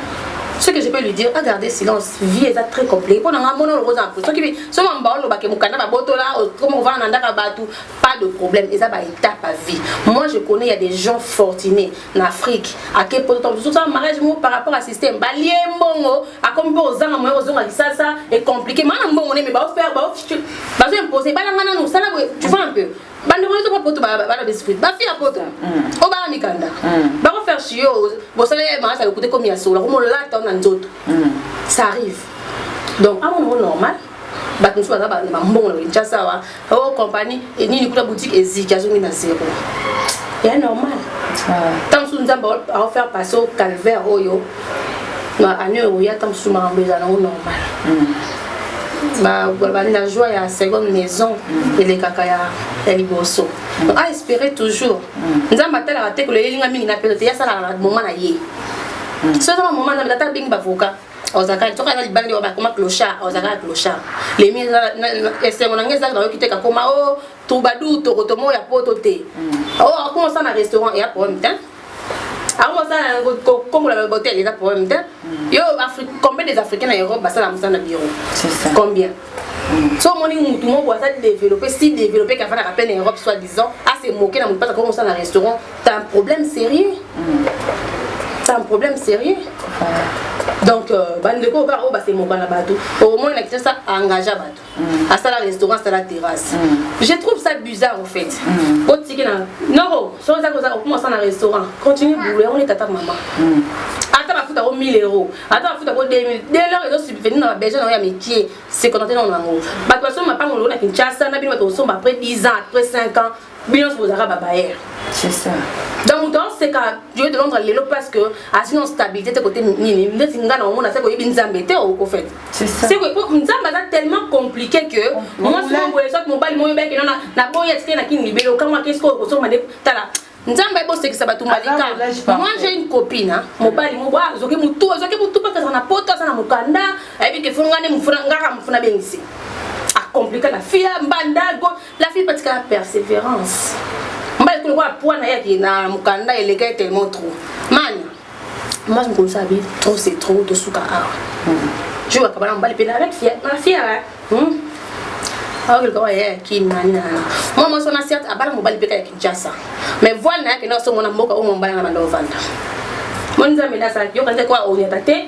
ce que je peux lui dire a garder silence vie eza très compliqué mpo na ngai mona olokoza na mposo soki soki mamba olobake mokanda babotola okoma kovanda na ndaka bato pas de problème eza ba étape à vie moi je connais ya des gens fortunés na afrique ake potososala mariage moko par rapport à système balie mbongo akomi mpo ozanga moya kozonga kisasa ecompliqué maa na mbongo neme baofaire bazo impose balanga nanu sala boye tu vois un peu bandeko nyonso mpo poto bana besprit bafi ya poto mm. oyo bana mikanda mm. bako faire chiyo bosala ya marasa lokuta ekomi ya solo akomolata na nzoto mm. ça arrive donc amona ngo normal bato mosusu baza na bambongo na kinshasa awa o oh, compagnie e nini kuna boutique eziki azongi na zero ya normal ah. ntango mosusu nzambe aofaire passe au calvaire oyo ba année oyo yata mosusu makambo ezala nango normal babandi na joie ya seconde maison elekaka ya liboso donc a espérer toujours nzambe atalaka te koloyelinga mingi na pete te yasalaka na moma na ye soki eza bamoma nzambe ata abengi bavoka ozalaka soki aza libandi oyo bakoma clochard ozalaka clochard lemi esengo na ngai ezalaka nayoki te kakoma o oh, troubadour tokotomo ya poto te hmm. oh, akoma osala na restaurant ya problème te akoma osala na kokombola na hotel eza problème te hmm. yo combien des africains na europe basala mosala na bureau combien hmm. so omoni mutu moko aza développé si développé kafandaka mpe na europe soit disant ase moke na motu mpasa koma osala na restaurant ta un problème sérieux ta un problème sérieux donc euh, bandeko kaka oyo basemokana bato omoni na kisasa engagea bato Mm. asala restaurant asala terrasse mm. je trouve ça bizarre au fait mm. otikela noro soki ozaki oza okoma osala na restaurant continue boulot yango nde tata mama ata bafuta yango 1000 euros ata bafuta yango 2000 dès lors ezo subvenir na babesoin na yango ya mikie sekonate nango nango bato basomba mapango longo na kinshasa na bino bato kosomba après 10 ans après 5 ans bino nyonso bozalaka babayere c'est ça donc moto aoseka joe de londres lelo parce que azwi na stabilité te kote nini ndeti nga na omona seke oyebi nzambe te au fait nzambe aza tellement compliqué que mwasi moboye soit mobali moyo beke nona na boye atike na kini libele okango akesi koyo kosomba nde tala nzambe bosekisa bato malika moi j'ai une copine mobali moko azoki motu azoki motu mpaka azala na poto aza na mokanda ayebi ke fongani mofuna ngaka mofuna bengisi akomplika na fia mbanda La fille patika la perseverance. Mbali kule kwa pwana yaki na mukanda eleka tellement trop. Mani. Moi je me conseille bien trop c'est trop de suka awa. Je vois kabana mbali pena avec fière, ma fière. Hmm. Awa kile kwa yeye ki nani na. Moi moi sona certes abala mobali peka ya Kinshasa. Mais voilà yake na so mona mboka o mobali na bando vanda. Moni nzambe na sa yoka nzako a onyata te.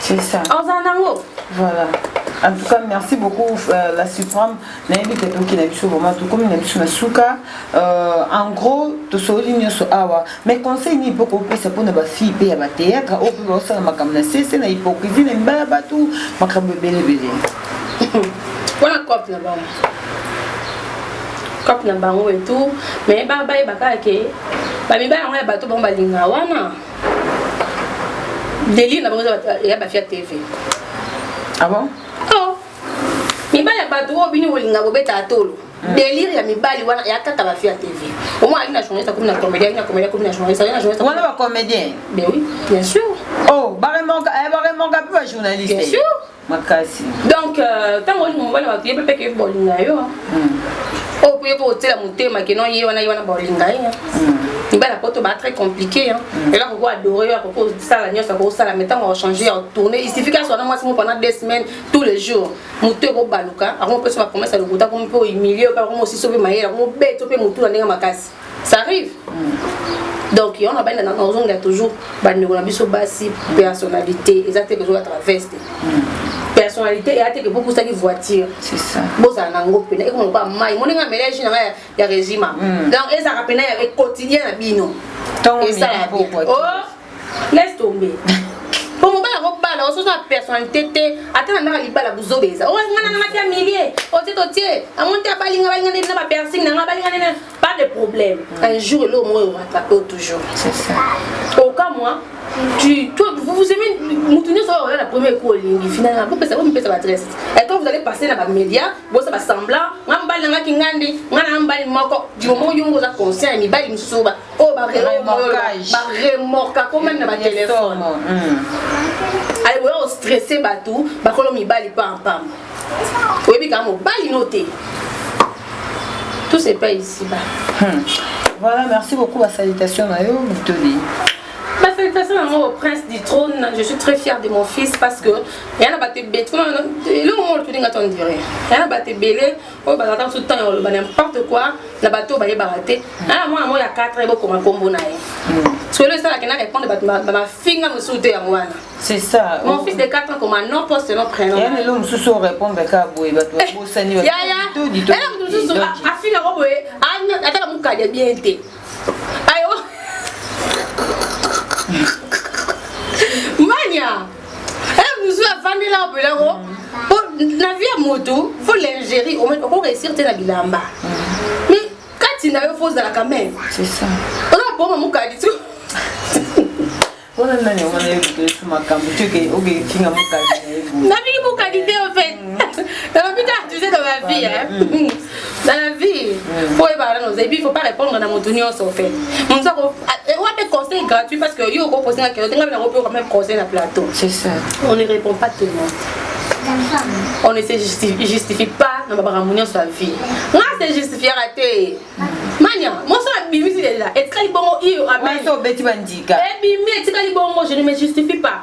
C'est ça. Ozala nango. Voilà. En tout cas, merci beaucoup euh, la Supreme. Nayebi te toki na biso vraiment tokomi na biso na suka. Euh, en gros, tosoli nyonso awa. Mais conseil ni poko pesa pona ba fille pe ya ba théâtre au pe osala makambo na sese na hypocrisie na mbaya batu makambo ebele ebele. Wana cop na bango. Cop na bango et tout. Mais ba ba ye bakaka ke ba mibala yango ya bato bango balinga wana. délire na bango ya bafia tv ah bon oh. mibali ya bato oyo bini kolinga kobeta atolo mm. délire ya mibali wana ya kaka bafia tv omoi alina journaliste akomi na comédien alina comédien akomi na journaliste alina journaliste wana ba comédien ben oui bien sûr oh baremonka eh, baremonka mpe ba journaliste bien sûr makasi donc euh, ntango olinga mobali bato ye mpe mpe bolinga yo hmm. oyo mpo ye mpo otyela motema keno ye wana ye wana bolinga ye hmm. mibali ya poto ba très compliqué hmm. ela koko adore yo akoko osala nyonso akosala mai ntango achange ya tourne isifi kasi wana mwasi moko pendant deux semaines tous les jours motu ekobaluka akomopesa bapromese ya lokuta akomi mpe ohumilie yo mpe akomosisi yo mpe mayele akomobeti yo mpe motu na ndenge makasi ça arrive donc yango nabali na ozongela toujours bandeko na biso basi personnalité eza te kozongela traveste hmm. personnalité eya te ke bokusaki voiture bozala na yango mpena ekoma lokola mai moni nga melage na nga ya régima hmm. donc ezalaka mpena ya quotidien na bino esalaa oh! laisse tomber po mobali yango bala oso oza personnalité te ata na ndaka libala buzoba eza o nga nanga natia milie otie totie yango nte abali nga balinga nde na bapersing nanga balinga nde pas de problème mm. un jour eloko moko ekorattrape o toujours oka moi tu, toi, vous, vous aimez Moutouni sur la première cour lingi finalement vous pesa vous pesa ba dresse et quand vous allez passer dans ba média bon ça va semblant ngamba nga kingandi ngana mbali moko du moment où vous êtes conscient mi bali msuba oyo baremorka ko meme na batelefone hmm. aye boya ostresse bato bakolo mibali pampam oyebi kaka mobali no te tout se paye ici ba hmm. voilà merci beaucoup ba salutation na yo mitoli Bah, félicitations à moi au prince du trône. Je suis très fière de mon fils parce que il y en a battu bête. Et le moment où tu dis, on dirait. Il y en a battu belé. oyo bazalaka mosusu ntango ya koloba n'importe quoi na bato oyo bayebaka te hmm. aa ah, mwana moko ya 4 ye bokoma nkombo na ye hmm. solo esalaka na répondre bato bamafinga mosusu te yango wana c'est ça mon fils de 4 ans koma non poste non prénom ya lelo mosusu orépondre kaka boye bato eh, babosani yaya ela moto mosusu afinga ko boye ataka mokadi ya bien te ayo mania musu afandela oyo mpenza ko mpo na vie ya motu fo lingerie oko réussir te na bilamba mais kati na yo fo ozalaka meme oza boma mokadi tu wana nani wana yokitolisi makambo tioke okefinga mokadi na ye nabiki mokadi te en fait nabika tu sais dans ma vie hein dans la vie faut oyebaka nano oza epuis faut pas répondre na motu nyonso fait motu ako owa mpe conseil gratuit parce que yo okoposi nga kelo te nga mpe nakopi oka mpe conseil na plateau c'est ça on ne répond pas tout le monde on ne se justifi- justifie pas na makambo nyonso ya vie nga se justifiaka te mania moso abimisi deja etikali bongo iyo amen Wana obeti bandika. ebimi etikali bongo je ne me justifie pas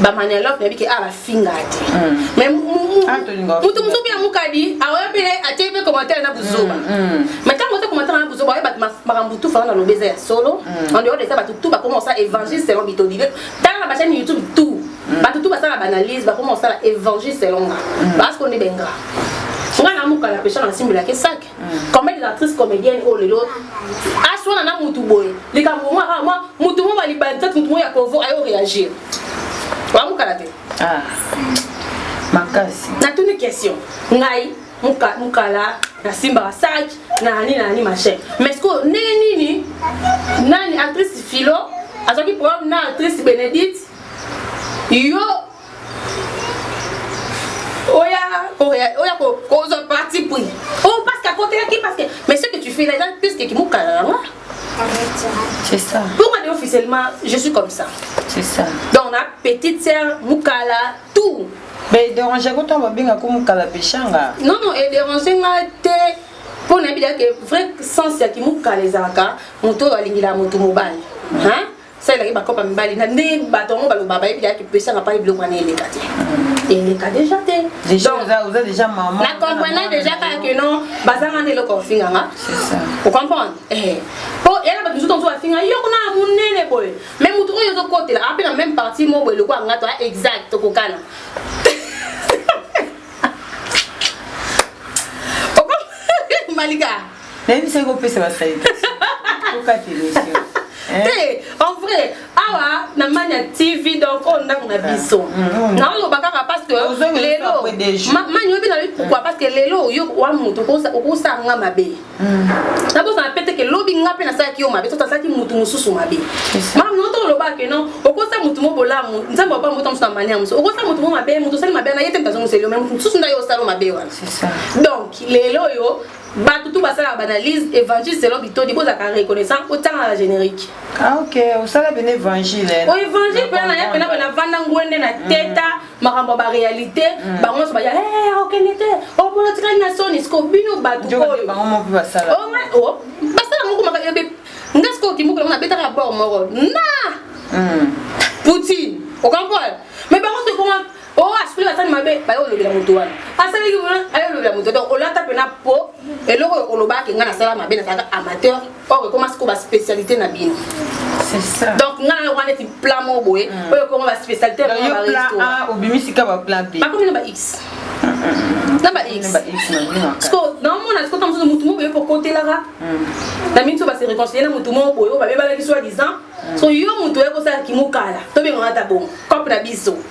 ba manialogue nayebi ke awa bafingaka te mais moto mosusu mpe amukadi aoya mpe atie mpe commentaire na buzoba mais ntango oza commentaire na buzoba oye bato makambo tu fana na lobi eza ya solo en dehors de ça bato tu bakoma kosala évangile selon bitodile tala na bachaine youtube tout bato tu basala baanalyse bakoma kosala évangile selon nga baasiko nde benga nga na mukala pesha na simbelaka esake combien des actrices comédiennes oyo lelo aswana na mutu boye likambo mwa ah, mwa mutu mwa balibandisa mutu mwa ya kovo ayo réagir bamukala te ah. makasi natuni question ngai muka, mukala nasimbaka saki na nini na nini machin mais sikoyo ndenge nini nani actrice philo azwaki problème na actrice bénédite yo oya oya oya ko kozwa parti pris oh parce que akotelaki parce que mais ce que tu fais là eza plus que kimokala na nga C'est ça. Pour aller officiellement, je suis comme ça. C'est ça. Donc, la petite sœur, Mukala, tout. Mais déranger quand on va bien comme Mukala Peshanga. Non, non, et déranger nga te. Pour n'a bien que vrai sens ya ki Mukala ezaka, moto alingi la moto mobile. Hein? salelaki bakopa mibali na nde bato yango baloba bayebi yaki pesaka pai biloko wana eleka te mm. eleka deja te na comprena deja kaka ke non bazanga nde eloko ofinganga ocomprendre eh. po yana bato mosusu tomosusu bafinga yo kuna na monene boye mai motu oyo ozokotela ape na meme parti mo boye eloko yangato a ah, exact okokana malika nayebisaki kopesa ba salutation okati emission eh? te en vrai awa na mania tv donc oyo ndako na biso ah, mm, mm. naoloba kaka parce que lelo mani oyebi nalobi pourquoi parce que lelo oyo wa moto okosala nga mabe mm. nabosana pe te ke lobi nga mpe nasalaki yo mabe soki asalaki motu mosusu mabe mama no tolobaka ke non okosa motu mo bolamu nzambe opa mota mosusu na mania mosusu okosa motu mo mabe moto osali mabe na ye te moto azongiseli yo me motu mosusu nda yo osala mabe wana donc lelo oyo Batu tout basala ba analyse évangile selon bitodi bozaka reconnaissant otanga la générique. Ah OK, osala bene évangile. O évangile pena ya pena pena vanda ngwende na mm. teta makambo ba réalité mm. bango so ba ya eh OK nete o polo tika na soni sko bino batu ko. Bango mo pe basala. O nga o oh, basala moko maka yobe. Nga sko kimoko na betaka rapport moko. Na. Mm. Poutine. O comprendre? Mais bango so koma oyo oh, asukoli basani mabe baye olobela moto wana asalaki aye olobela moto donc olata mpena po eloko oyo olobaki ngai nasala mabe nazalaka amateur or ekoma sikoyo baspécialité na bino donc ngai nayo wana neti plat moko boye hmm. oyo ekoma baspécialité obimisi ka baplat mpe bakomi na ba x na ba x sikoyo naomona sikoyo ta mosusu motu moko boye kokotelaka hmm. na minso base réconcilie na motu moko boye oyo babebalaki soi disant hmm. so yo motu oye kosala kimokala tobengana ta bongo cope na biso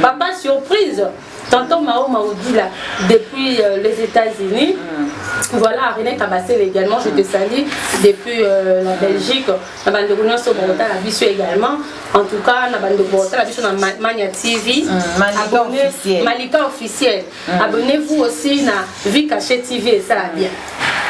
Papa surprise, tonton Mao Maudila depuis euh, les États-Unis. Mm. Voilà, René Kabassel également, je te salue depuis euh, la Belgique. Na bande kono so bota la biso également. En tout cas, na bande bota la biso na Mania TV. Mm, Malika officiel. Malika officiel. Mm. Abonnez-vous aussi na Vie Cachée TV et ça bien.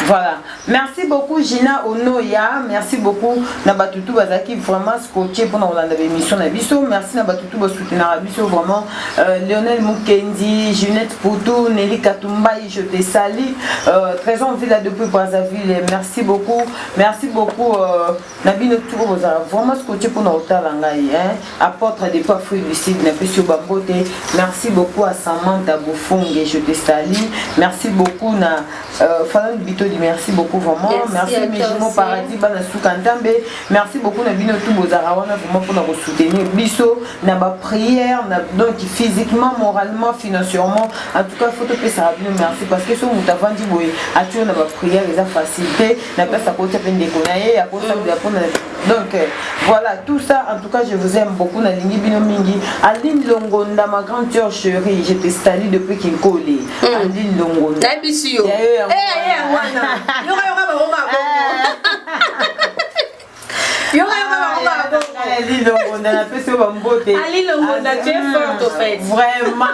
Voilà. Merci beaucoup Gina Onoya. Merci beaucoup na batutu bazaki vraiment scotché pour na Hollande émission na biso. Merci na batutu ba soutenir biso vraiment euh, Lionel Mukendi, Junette Poutou, Nelly Katumbaï, je te salue. Euh, Trésor Villa depuis Brazzaville. Merci beaucoup. Merci beaucoup euh, na bino tuko bozala vraiment scotche mpona kotala ngai hein? apportre de pas fruit du sud na pesi yo bambote merci beaucoup à samantha bofonge je te salie merci beaucoup na euh, falan bitodi merci beaucoup vraiment merci, merci mijimo paradis bana suka ntambe merci beaucoup na bino tu bozalaka wana vraiment mpona kosoutenir biso na baprière na donc physiquement moralement financièrement en tout cas fo topesaka bino merci parce que so moto avandi boye atyo na baprière eza facilité na place akotisa mpe ndeko na ye akotisa mm. drapo na donc euh, voilà tout ça en tout cas je vous aime beaucoup nalingi bino mingi aline longonda ma grande sœur chérie je te salue depuis kinkole mm. aline longonda nayebisi yo eh, eh, wana yokayoka bango mabongo Ali Longonda na pesi yo bambote. Ali Longonda tu es forte au fait. Vraiment.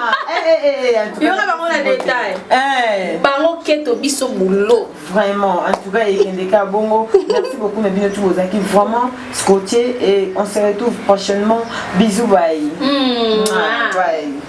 Yona bango na détail. Eh. Bango keto biso boulot. Vraiment. En tout cas ekende ka bongo. Merci beaucoup na bino tous bozaki vraiment scotché et on se retrouve prochainement. Bisous bye. Mmh. Bye.